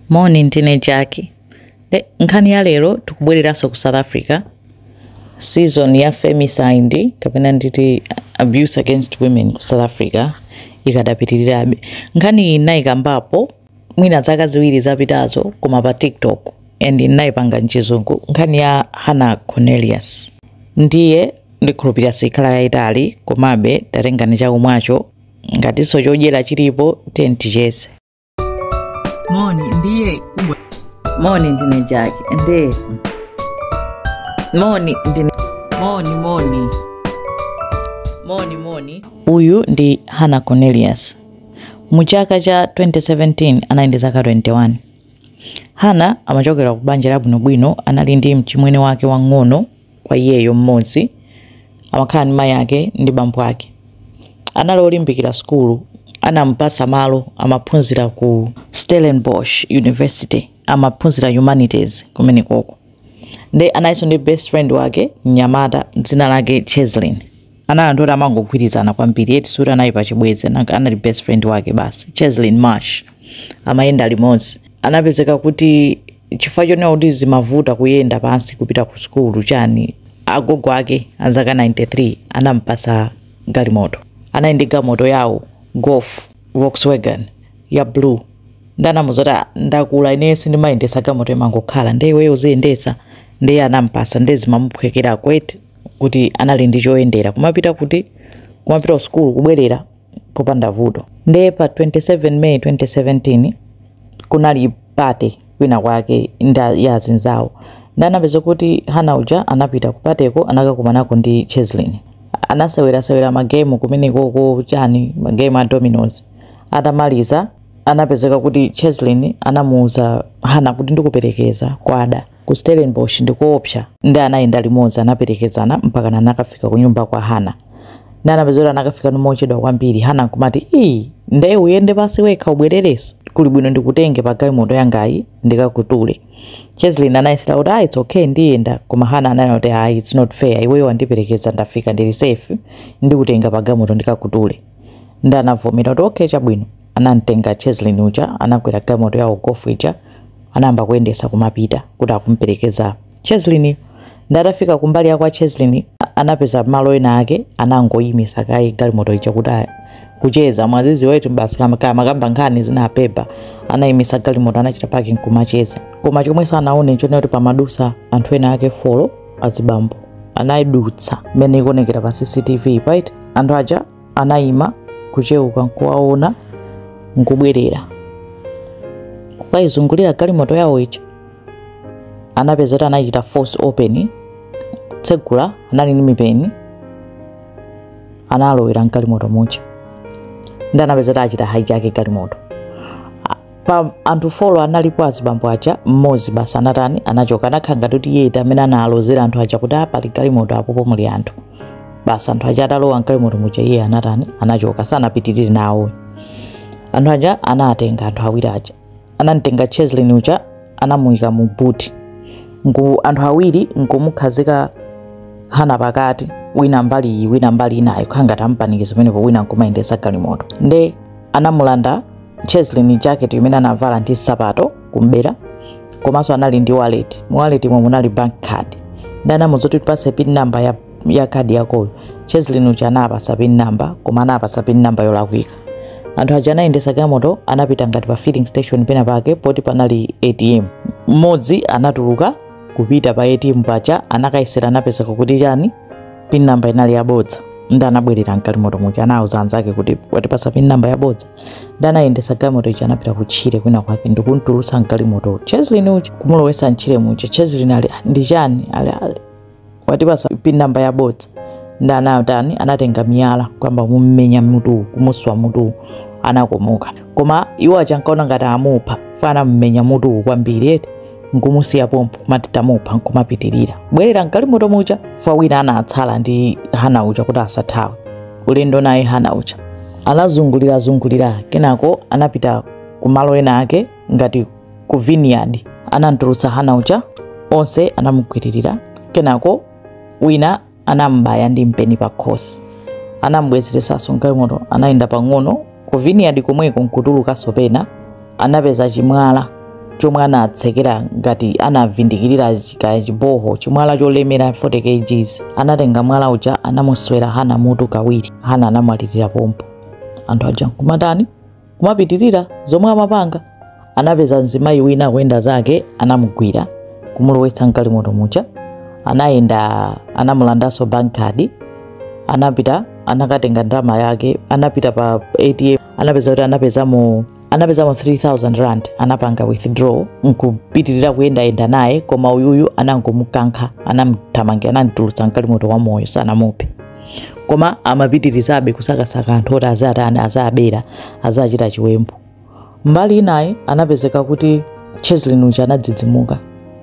Moni ndine Jack nkhani ya lero tikubwereranso ku South Africa season ya femicide kapena nditi abuse against women ku South Africa ikadapitirirabe nkhani iyi nnayikambapo mwina zaka ziwiri zapitazo koma pa TikTok and nnayipanga mchizungu nkhani ya Hannah Cornelius ndiye ndikhulupirira sikhala yayitali komabe tatengani chakumwacho ngatinso chodyera chilipo tiyeni ticheze moni ndiye kubwa moni ndine jack ndiye moni ndine moni moni moni moni uyu ndi hannah cornelius mu chaka cha 2017 anali ndi zaka 21 hannah amachokera ku banja labwinobwino anali ndi mchimwene wake wang'ono kwa iyeyo mmodzi amakhala ndi mayi ake ndi bambo ake anali olimbikira sukulu anampatsa malo amaphunzira ku stellenbosch university amaphunzira humanities kumenekoko nde analinso ndi best friend wake mnyamata dzina lake cheslin Anali anthu oti amangogwirizana kwambiri eti sikuti anali pa chibwenzi anali best friend wake basi Cheslin Marsh amayenda limodzi anapezeka kuti chifukwa chonena kuti zimavuta kuyenda pansi kupita ku sukulu chani agogo ake azaka 93 anampasa galimoto anali ndi galimoto yawo golf Volkswagen ya blue nde anamuuza kuti "Ah, ndakula ine sindimayendesa galimoto imangokhala nde iweyo uziyendesa ndiye anampasa nde zimamuphwekerako eti kuti anali ndi choyendera kumapita kuti kumapita ku sukulu kubwerera popanda vuto nde pa 27 may 2017 kunali pate kwina kwake ya azinzawo nde anapeza kuti hannah uja anapita kupateko anakakumanako ndi cheslin anasewerasewera magemu kumenekoko chani magemu a dominoes atamaliza anapezeka kuti cheslin anamuuza hannah kuti ndikuperekeza kwada Ku Stellenbosch ndi koopsa. Nde anayenda limodzi, anaperekezana mpakana anakafika kunyumba kwa Hannah. Nde anapeza kuti anakafikako mochedwa kwambiri. Hannah nkumati, Iii, nde uyende pansi wekha ubwererenso? Kuli bwino ndikutenge pa galimoto yangayi ndikakutule. Cheslin anayesera kuti, Ah, it's okay, ndiyenda. Koma Hannah ananena kuti, Ayi, it's not fair. Iweyo wandiperekeza, ndafika ndili safe, ndikutenga pa galimoto ndikakutule. Nde anavomera kuti, Okay, chabwino. Anamtenga Cheslin uja, anakwera galimoto yawo Golf ija. anayamba kuyendesa kumapita kuti akumperekeza Cheslin nde atafika kumbali ya kwa Cheslin anapeza malo ena ake anangoyimisa kaye galimoto ija kuti kucheza mwazizi wetu basi kumakambakamba nkhani zina pepa anayimisa galimoto anachita parking kumacheza koma chomwe sanaone nchonena kuti pamadutsa anthu ena ake folo azibambo anayidutsa mmene ikuonekera pa cctv right anthu aja anayima kuchewuka nkuwaona nkubwerera kukayizungulira galimoto yawo ija anapeza kuti anachita force open tsegula anali ndi mipeni analowera mgalimoto muja nde anapeza kuti achita hijack galimoto A- pa anthu folo analipo azibambo aja mmodzi basi anatani anachoka anakhala ngati kuti iye amene analozera anthu aja kuti pali galimoto apopo muli anthu basi anthu aja atalowa mgalimoto muja iye anatani anachoka sanapitirire nawo anthu aja anatenga anthu awiri aja anamtenga cheslin uja anamuyika mu buti anthu awiri nkumukhazika hana pakati wina mbali wina mbali inayo khangati ampanikiza pamenepo wina nkumayendesa galimoto nde anamulanda cheslin jacket imene anavala ndi nsapato kumbera komanso anali ndi wallet mu wallet umu munali bank card nde anamuuza kuti tipase pin number ya, ya card yakoyo cheslin uja anapasa pin number koma anapasa pin number yolakwika anthu aja anayendesa galimoto anapita ngati pa filling station pena pake poti panali atm mmodzi anatuluka kupita pa atm paja anakayesera anapezeka kuti chani pin number inali yabodza nde anabwerera mgalimoto muja anauza anzake kuti watipasa pin number yabodza nde anayendesa galimoto ija anapita kutchire kwina kwake ndikumtulutsa mgalimoto cheslin uja kumulowesa mtchire muja cheslin ali ndi chani ali watipasa pin number yabodza nde anatani anatenga miyala kuyamba kummenya mutuwu kumuswa mutuwu anakomoka koma iwo aja ankaona ngati amupha fwa anammenya mutuwu kwambiri eti nkumusiya pompo amati tamupha nkumapitirira bwerera mgalimoto muja fwa wina anatsala ndi hana uja kuti asathawe ulendo naye hana uja anazungulirazungulira kenako anapita ku malo ena ake ngati ku vineyard anamtulutsa hana uja onse anamugwiririra kenako wina anam'baya ndi mpeni pakhosi anam'bwezeresanso mgalimoto anayenda pang'ono ku vineyard komweko nkutulukanso pena anapeza chimwala chomwe anatsekera ngati anavindikirira kaya chiboho chimwala cholemera 40 kgs anatenga mwala uja anamuswera hana mutu kawiri hana anamwalirira pompo anthu aja nkumatani kumapitirira zomwe amapanga anapeza mzimayi wina akuyenda zake anamugwira kumulowetsa mgalimoto muja anayenda anamulandanso bank card anapita anakatenga ndalama yake anapita pa atm anapeza kuti anapezamo anapezamo 3000 rand anapanga withdraw nkupitirira kuyendayenda naye koma uyuyu anangomukankha anamthamangira anamtulutsa mgalimoto wa moyo sanamuphe koma amapitirizabe kusakasaka anthu oti azatani azabera azachita chiwembu mbali inayi anapezeka kuti cheslin uja anadzidzimuka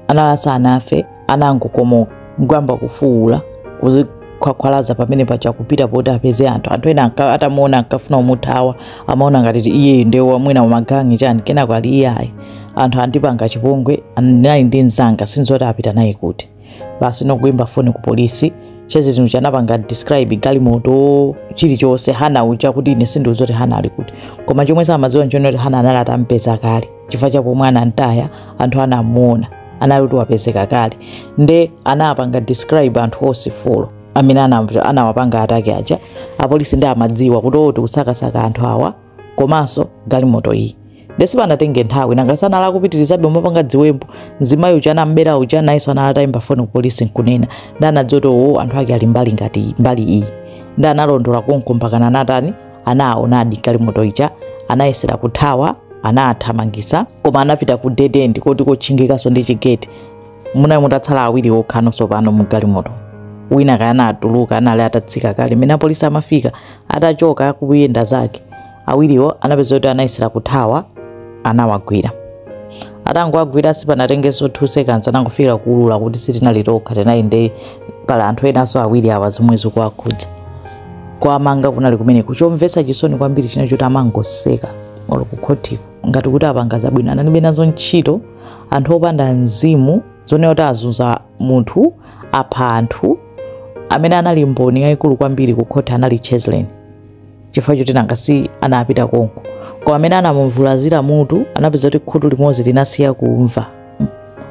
anali asanafe anangokomoka nkuyamba kufuwula kuzikhwakhwalaza pamene paja kupita poti apeze anthu anthu ena anka- atamuona ankafuna kumuthawa amaona ngati ti iyeyo ndiye wamwina wamagangi chani kenako ali iyayi anthu andipanga chipongwe ndinali ndi mzanga sindidziwa kuti apita naye kuti basi nokuimba foni ku polisi cheslin uja anapanga describe galimoto chilichonse hana uja kuti ine sindidziwa kuti hana ali kuti koma chomwe samadziwa nchonena kuti hana anali atampeza kale chifukwa cha pomwe anamtaya anthu anamuona anali kuti wapezeka kale nde anapanga describe anthu onse folo amene anamva- anawapanga attack aja apolisi nde amadziwa kuti oti kusakasaka anthu awa komanso galimoto iyi nde sipanatenge nthawi nanga si anali akupitirizabe kumapanga dziwembu mzimayi uja anam'bera uja nayenso anali atayimba foni kupolisi nkunena nde anadziwa kuti owo anthu ake ali mbali ngati mbali iyi nde analondola konko mpakana anatani anaawonadi galimoto ija anayesera kuthawa anathamangisa koma anapita ku dead end koti kotchingikanso ndi chigeti munali mutatsala awiri okhano tsopano mu galimoto wina kaya anatuluka anali atatsika kale mene apolisi amafika atachoka akuyenda zake Awiriwo anapeza kuti anayesera kuthawa, anawagwira. Atangowagwira sipanatengenso 2 seconds anangofikira kuulula kuti sitinali tokha tinali ndi pali anthu enanso awiri awa zomwe zikuwakhudza. Kuwamanga kunali kumeneko. Chomvetsa chisoni kwambiri chinali choti amangoseka olo kukhotiko ngati kuti apanga zabwino analibe nazo ntchito anthu opanda mzimu zonena kuti azunza munthu apha anthu amene anali mboni yayikulu kwambiri kukhoti anali Cheslin. chifukwa choti nanga si anapita konko koma mmene anamuvulazira mutu anapeza kuti khutu limodzi linasiya kumva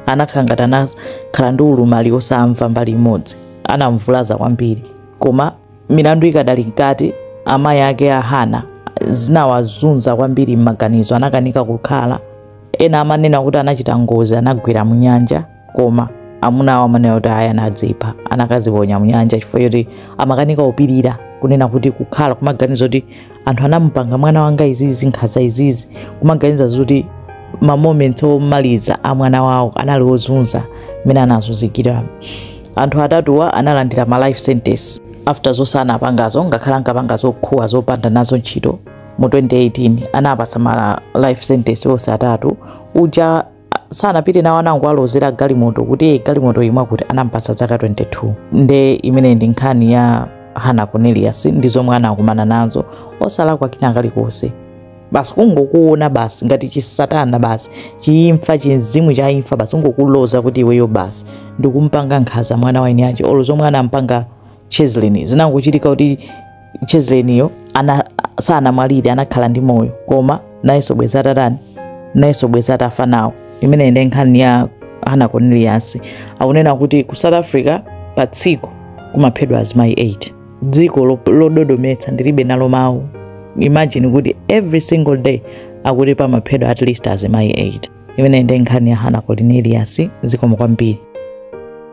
anakhala ngati anakhala ndi ulumali osamva mbali imodzi anamvulaza kwambiri koma milandu ikadali mkati amayi ake a hana zinawazunza kwambiri m'maganizo anakanika kukhala ena amanena kuti anachita ngozi anagwera mu nyanja koma amuna awo amanena kuti ayi anadzipha anakaziponya mnyanja chifukwa choti amakanika kupirira kunena kuti kukhala kumaganiza kuti anthu anamupanga mwana wanga izizi nkhaza izizi kumaganiza zoti ma moments omaliza a mwana wawo anali ozunza mmene anazunzikira anthu atatuwa analandira ma life sentence after zonse anapangazo ngakhale ankapanga zokhuwa zopanda nazo ntchito mu 2018 anawapatsa ma life sentence onse atatu uja sanapite nawo anangowalozera galimoto kuti "Eh, galimoto ili mwakuti anampatsa dzaka 22 nde imene ndi nkhani ya hana cornelius ndi zomwe anakumana nazo osalakwa kina kalikonse basi kungokuona basi ngati chisatana basi chiimfa chimzimu cha imfa basi kungokuloza kuti iweyo basi ndikumpanga nkhaza mwana wa eniache olo zomwe anampanga Cheslin. Zinangochitika kuti Chesliniyo sanamwalire, anakhala ndi moyo, koma nayenso bwezi atatani, nayenso bwezi atafa nawo. Imeneyi ndi nkhani ya Hannah Cornelius. Akunena kuti ku South Africa pa tsiku kumaphedwa azimayi 8 dziko lododometsa ndilibe nalo mawu imagine kuti every single day akuti pamaphedwa at least azimayi 8 imeneyi ndi nkhani ya Hannah Cornelius zikomo kwambiri